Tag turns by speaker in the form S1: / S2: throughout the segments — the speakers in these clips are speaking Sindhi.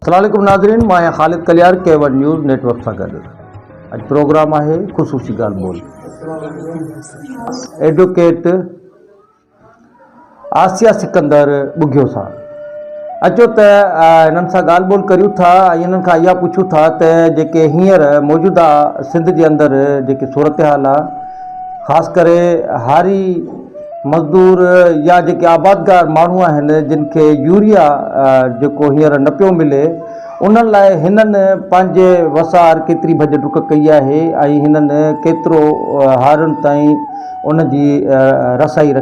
S1: السلام عليڪم ناظرين مان آهيان Khalid Kalyar K one news network سان گڏ اڄ پروگرام آهي خصوصي ڳالهه ٻولهه ايڊوڪيٽ آسيا سڪندر ٻگهيو سان اچو ته هنن سان ڳالهه ٻولهه ڪريون ٿا ۽ هنن کان اها پڇون ٿا ته جيڪي هينئر موجوده سنڌ جي اندر جيڪي صورتحال آ خاص ڪري هاري مزدور يا جيڪي آبادگار ماڻهو آهن جن کي يوريا جيڪو هينئر نه پيو ملي ان لاء هنن پنهنجي وسار ڪيتري ڀڄ ڊڪ ڪئي آهي ۽ هنن ڪيترو هارن تائين ان جي رسائي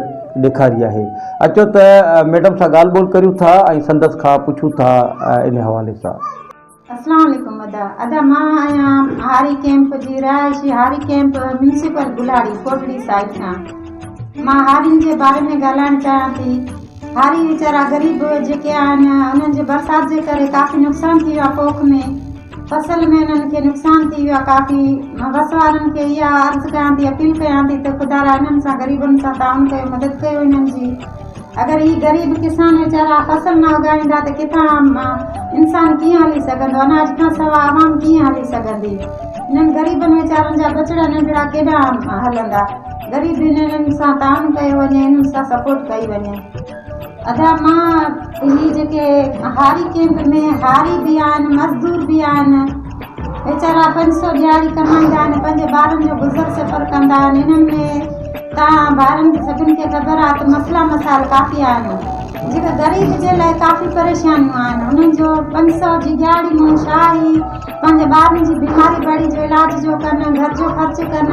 S1: ڏيکاري آهي. اچو ته ميڊم سان ڳالهه ٻولهه ڪريون ٿا ۽ سندس کان پڇون ٿا ان حوالي سان. اسلام
S2: عليڪم ادا ادا مان آهيان هاري ڪيمپ جي رهائشي هاري ڪيمپ ميونسپل بلاڙي ڪوٽڙي سائيڊ کان مان هارين جي باري ۾ ڳالهائڻ چاهيان ٿي. هاري ويچارا غريب جيڪي آهن انهن جي برسات جي ڪري ڪافي نقصان ٿي ويو آهي پوک ۾ فصل ۾ انهن کي نقصان ٿي ويو آهي ڪافي مان بس وارن کي اها عرض ڪيان ٿي اپيل ڪيان ٿي ته خدا را انهن سان غريبن سان تعاون ڪيو مدد ڪيو انهن جي اگر هي غريب ڪسان ويچارا فصل نه اگائيندا ته ڪٿان انسان ڪيئن هلي سگهندو اناج کان سوا عوام ڪيئن هلي سگهندي انهن غريبن ويچارن جا ٻچڙا ننڍڙا ڪيڏانهن هلندا. غريبين انهن سان تعاون ڪيو وڃي انهن سان سپورٽ ڪئي وڃي ادا مان هي جيڪي هاري ڪيمپ ۾ هاري به آهن مزدور به آهن ويچارا پنج سو ڏياري ڪمائيندا آهن پنهنجي ٻارن جو گذر سفر ڪندا آهن انهن ۾ تان ٻارن سڀن کي خبر آهي ته مسئلا مسائل ڪافي آهن جيڪي غريب جي لاء ڪافي پريشانيون آهن انهن جو پنج سو جي ڏياري ۾ شاهي پنهنجي ٻارن جي بيماري بڙي جو علاج جو ڪن گهر جو خرچ ڪن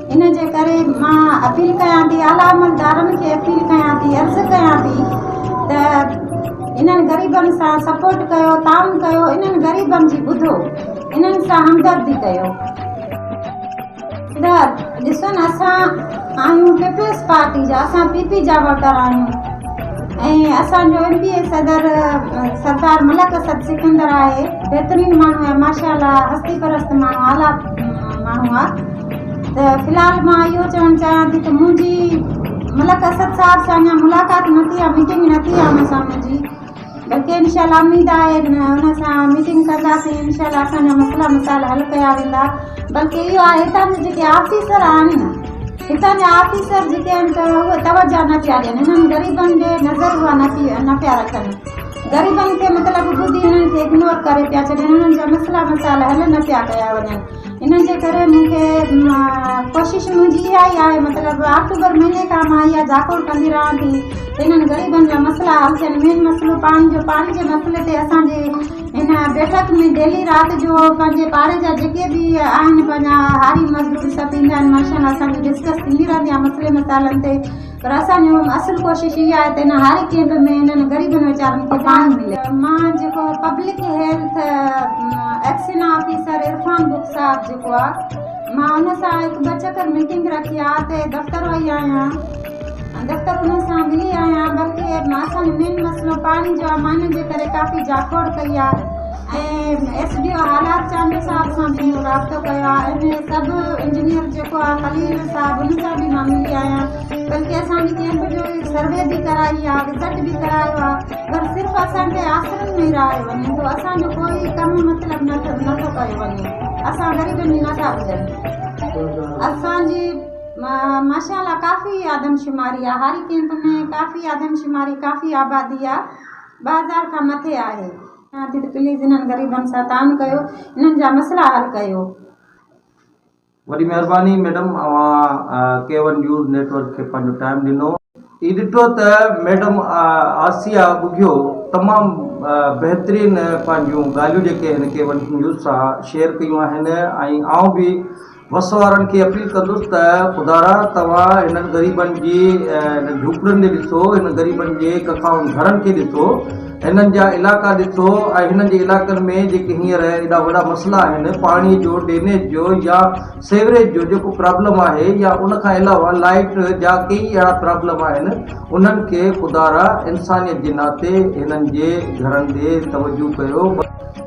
S2: ان جي ڪري مان اپيل ڪيان ٿي اعليٰ عملدارن کي اپيل ڪيان ٿي عرض ڪيان ٿي ته انهن غريبن سان سپورٽ ڪيو تعاون ڪيو انهن غريبن جي ٻڌو انهن سان همدردي ڪيو ادار ڏسن اسان آهيون پيپلز پارٽي جا اسان پي پي جا ووٽر آهيون ۽ اسان جو ايم پي اي صدر سردار ملڪ اسد سڪندر آهي بهترين ماڻهو آهي ماشاء الله هستي پرست ماڻهو اعليٰ ماڻهو آهي ته في الحال مان اهو چوڻ چاهيان ٿي ته منهنجي ملڪ اسد صاحب سان اڃا ملاقات نه ٿي آهي ميٽنگ نه ٿي آهي ان سان منهنجي بلڪه انشاء الله اميد آهي ان سان ميٽنگ ڪنداسين انشاء الله اسان جا مسئلا مسائل حل ڪيا ويندا بلڪه اهو آهي هتان جا جيڪي آفيسر آهن هتان جا آفيسر جيڪي آهن ته اهي توجه نه پيا ڏين انهن غريبن جي نظر اها نه پي نه پيا رکن غريبن کي مطلب ٻڌي انهن کي اگنور ڪري پيا ڇڏين انهن جا مسئلا مسائل حل نه پيا ڪيا وڃن ان جي ڪري مون کي ڪوشش منهنجي اها ئي آهي مطلب آڪٽوبر مهيني کان مان اها جاکوڙ ڪندي رهان ٿي ته انهن غريبن جا مسئلا حل ٿين مين مسئلو پاڻي جو پاڻي جي مسئلي تي اسان جي هن بيٺڪ ۾ ڊيلي رات جو پنهنجي پاڙي جا جيڪي به آهن پنهنجا هاري مزدور سڀ ايندا آهن ماشاءالله اسان جي ڊسڪس ٿيندي رهندي آهي مسئلي مسائلن تي پر اسان جي اصل ڪوشش اها آهي ته هن هاري ڪيمپ ۾ انهن غريبن ويچارن کي پاڻي ملي. مان جيڪو public health XEN officer Irfan Bakhsh صاحب جيڪو آ مان ان سان هڪ ٻه چڪر ميٽنگ رکي آ ته دفتر وئي آهيان دفتر انهن سان ملي آهيان بلڪه اسان جو مين مسئلو پاڻي جو آ مان انهن جي ڪري ڪافي جاکوڙ ڪئي آ ۽ ايس ڊي او آلات چانڊيو صاحب سان به رابطو ڪيو آهي ۽ سب انجنيئر جيڪو آهي خليل صاحب ان سان به مان ملي آهيان بلڪه اسان جي ڪيمپ جو سروي به ڪرائي آهي وزٽ به ڪرايو آهي پر صرف اسان کي آسرن ۾ رهايو وڃي ٿو اسان جو ڪوئي ڪم مطلب نه ٿو ڪيو وڃي اسان غريبن جي نٿا ٻڌن اسان جي ماشا الله ڪافي آدمشماري آهي هاري ڪيمپ ۾ ڪافي آدمشماري ڪافي آبادي آهي ٻه هزار کان مٿي آهي چوان ٿي ته پليز انهن غريبن سان تعاون ڪيو انهن جا مسئلا حل ڪيو.
S1: وڏي مهرباني ميڊم اوهان K one news network کي پنهنجو ٽائيم ڏنو. هي ڏٺو ته ميڊم آسيا ٻگهيو تمام بهترين پنهنجون ڳالهيون جيڪي هن ڪي ون نيوز سان شيئر ڪيون آهن ۽ آئون به وس وارن کي اپيل ڪندس ته خدارا توهان هنن غريبن جي هنن جهوپڙين ڏي ڏسو هنن غريبن جي ڪکائن گهرن کي ڏسو هنن جا علائقا ڏسو ۽ هنن جي علائقن ۾ جيڪي هينئر ايڏا وڏا مسئلا آهن پاڻي جو ڊينيج جو يا سيوريج جو جيڪو پرابلم آهي يا ان کان علاوه لائيٽ جا ڪيئي اهڙا پرابلم آهن انهن کي خدارا انسانيت جي ناتي هنن جي گهرن ڏي توجهه ڪيو